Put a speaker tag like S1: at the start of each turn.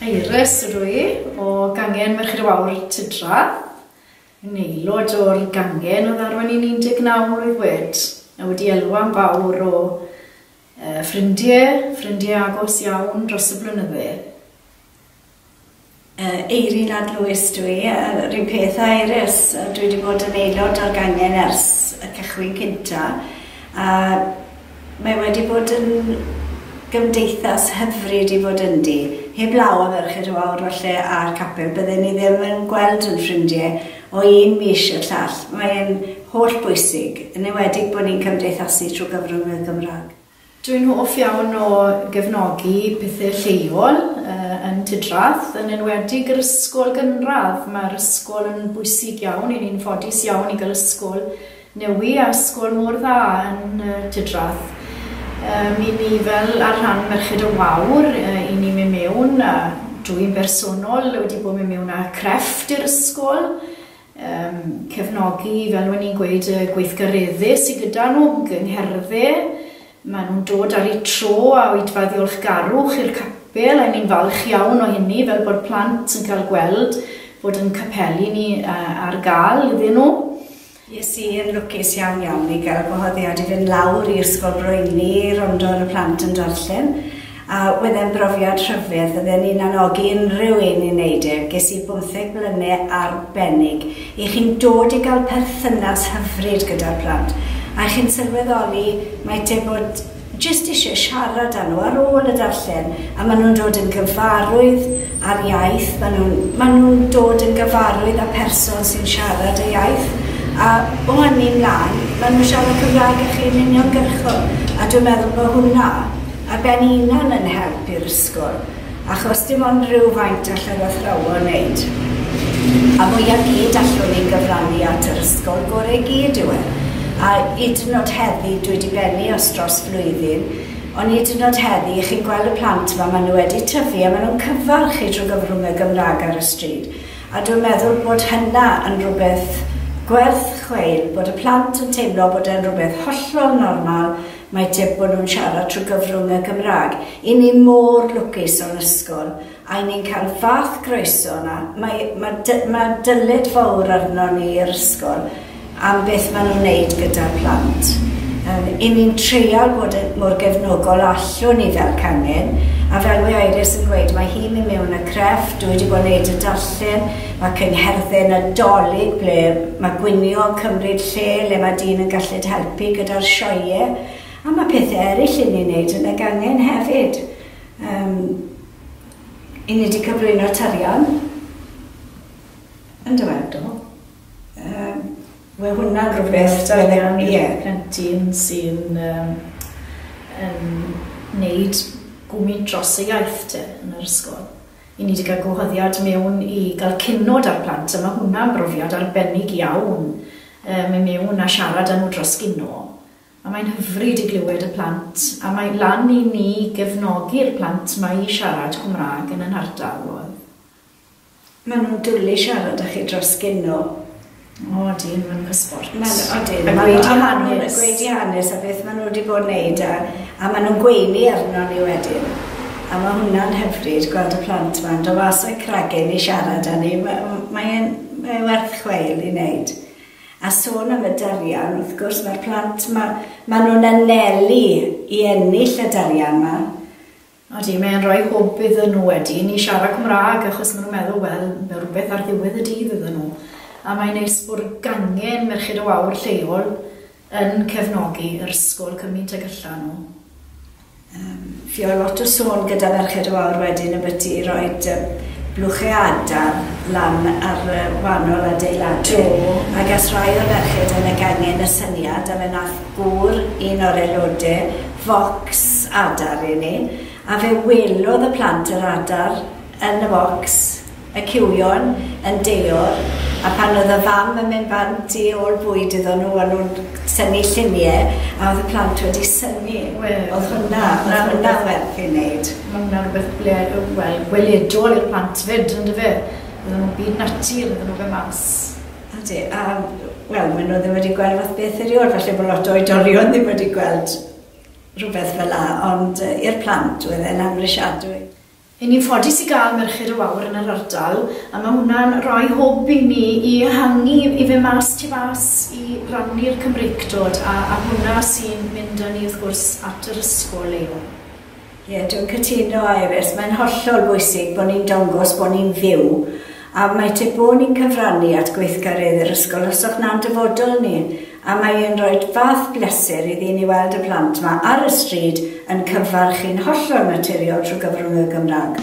S1: Iris ydw i, o gangen Merched y Wawr, Tudra. Yn aelod o'r gangen oedd arwain i'n 19 mlwydd wed, a wedi elwa'n fawr o uh, ffrindie, ffrindie agos iawn dros y blynydde. Uh,
S2: Eirin Ad Lewis dwi, uh, rhyw peth a Iris, uh, dwi wedi bod yn aelod o'r gangen ers y cychwyn cynta, a Mae wedi bod yn gymdeithas hyfryd i fod ynddi. Heblaw am erchyll y wawr falle a'r capel, bydden ni ddim yn gweld ein ffrindiau o un mis i'r llall. Mae e'n holl bwysig, yn enwedig bod ni'n cymdeithasu trwy gyfrwng y Gymraeg. Dw i'n hoff
S1: iawn o gefnogi pethe lleol yn Tudrath, yn enwedig yr ysgol gynradd. Mae'r ysgol yn bwysig iawn i ni'n ffodus iawn i gael ysgol New i ar sgôr mor dda yn y tŷ drath. Yym i ni fel ar rhan Merched y Wawr yy i ni myn mewn a dw i'n bersonol wedi bod myn mewn a crefft i'r ysgol yym cefnogi fel o'n i'n gweud y gweithgaredde sy gyda nhw yng ngherdde ma nhw'n dod ar eu tro a oedfa ddiolchgarwch i'r capel a ni'n falch iawn o hynny fel bod plant yn cael gweld bod yn capeli ni yy ar gal iddyn nhw. Es i
S2: yn lwcus iawn iawn i gael y gwahoddiad i fynd lawr i Ysgol Broini i rondo ar y plant yn darllen, a wedd e'n brofiad rhyfedd, fydde ni'n anogi unrhyw un i neud e, ges i bymtheg blyne arbennig i chi'n dod i gael perthynas hyfryd gyda'r plant, a chi'n sylweddoli mae te bod jyst eisiau siarad â nhw ar ôl y darllen a maen nhw'n dod yn gyfarwydd â'r iaith, maen nhw'n maen nhw'n dod yn gyfarwydd â pherson sy'n siarad y iaith a o hynny mlaen maen nhw'n siarad Cymraeg â chi yn uniongyrchol a dwi'n meddwl bod hwnna ar ben ei hunan yn help i'r ysgol. Achos dim ond rhyw faint all yr athrawon wneud. A fwya gyd allwn ni gyfrannu at yr ysgol gore i gyd yw e. A hyd yn o'd heddi, dwi di bennu os dros flwyddyn, ond hyd yn o'd heddi, chi'n gweld y plant yma, ma nhw wedi tyfu a ma nhw'n cyfarch chi drwy gyfrwng y Gymraeg ar y stryd. A dwi'n meddwl bod hynna yn rhywbeth gwerth chweil, bod y plant yn teimlo bod e'n rhywbeth hollol normal Mae tip bod nhw'n siarad trwy gyfrwng y Gymraeg. I ni mor lwcus o'n ysgol, a i ni'n cael fath groeso yna. Mae, mae dy, mae dyled fawr arnon ni yr ysgol am beth maen nhw'n neud gyda'r plant. Yym, i ni'n treial bod yn mor gefnogol a allwn ni fel cangen, a fel mae Iris yn gweud, mae hi'n mynd mewn a creff, dwi wedi bod yn neud y darllen, ac yng Ngherddyn Nadolig ble mae gwnïo yn cymryd lle le mae dyn yn galled helpu gyda'r sioeau a mae pethau eraill i ni wneud yn y gangen hefyd. Um, i ni wedi cyflwyno tarian yn dywedol. Um, Mae hwnna'n rhywbeth tarian i'r yeah.
S1: plentyn sy'n um, yn wneud gwmni dros y iaith te yn yr ysgol. I ni 'di cael gwahoddiad mewn i gael cinod â'r plant a ma' hwnna'n brofiad arbennig iawn yy myn' mewn a siarad â nhw dros gino a mae'n hyfryd i glywed y plant a mae lan i ni gefnogi'r plant 'ma i siarad Cwmrâg yn yn hardal. Oedd.
S2: Ma' nhw'n dwli siarad â chi dros gino. O
S1: ydyn, maen nhw'n hysbort. Maen, odyn, maen nhw
S2: am angen y gweidi hanes a beth maen nhw wedi bod yn neud a, a maen nhw'n gweini arno ni wedyn. A mae hwnna'n hyfryd gweld y plant ma'n do mas o'u cragen i siarad â ni. Mae'n mae werth chweil i wneud. A sôn am y darian, wrth gwrs mae'r plant, mae, maen nhw'n anelu i ennill y darian yma. Ydy, mae
S1: e'n rhoi hwb iddyn nhw wedi i ni siarad Cymraeg achos maen nhw'n meddwl, wel, mae rhywbeth ar ddiwedd y dydd iddyn nhw. A mae'n neis bod gangen Merched o Aur lleol yn cefnogi yr ysgol cymint ag allan nhw. Yym,
S2: fi oedd lot o sôn gyda Merched o Aur wedyn y byti i roi blwchau adar lan ar wahanol adeiladu ac as rhai o'r merched yn y gangen y syniad a fe nath gŵr, un o'r aelodau, focs adar i ni, a fe welodd y plant yr adar yn y focs, y cywion yn deor, a pan oedd y fam yn mynd bant i ôl bwyd iddon nhw, o'n nhw'n synnu lluniau, a oedd y plant wedi synnu. Wel, oedd hwnna, na, hwnna werth ei wneud. Mae hwnna rhywbeth ble,
S1: wel, gweledol i'r plant fyd, yn dyfe? Iddyn nhw byd natur, iddyn nhw fe mas. Ydy, a
S2: wel, maen nhw ddim wedi gweld fath beth erioed, falle bod lot o oedolion ddim wedi gweld rhywbeth fel la, ond uh, i'r plant oedd e'n amrisiadwy. Yn ni'n
S1: ffodus i gael Merched y Wawr yn yr ardal, a mae hwnna'n rhoi hwb i ni i ehangu i fe mas tu fas i rannu'r Cymreictod, a, a hwnna sy'n mynd â ni wrth gwrs at yr ysgol leol. Ie, dwi'n
S2: cytuno, Iris. Mae'n hollol bwysig bod ni'n dongos bod ni'n fyw, a mae tip bod ni'n cyfrannu at gweithgareddau yr ysgol os o'ch na'n dyfodol ni, a mae e'n rhoi fath bleser iddi ni weld y plant 'ma ar y stryd yn cyfarch chi'n hollol naturiol trwy gyfrwng y Gymraeg.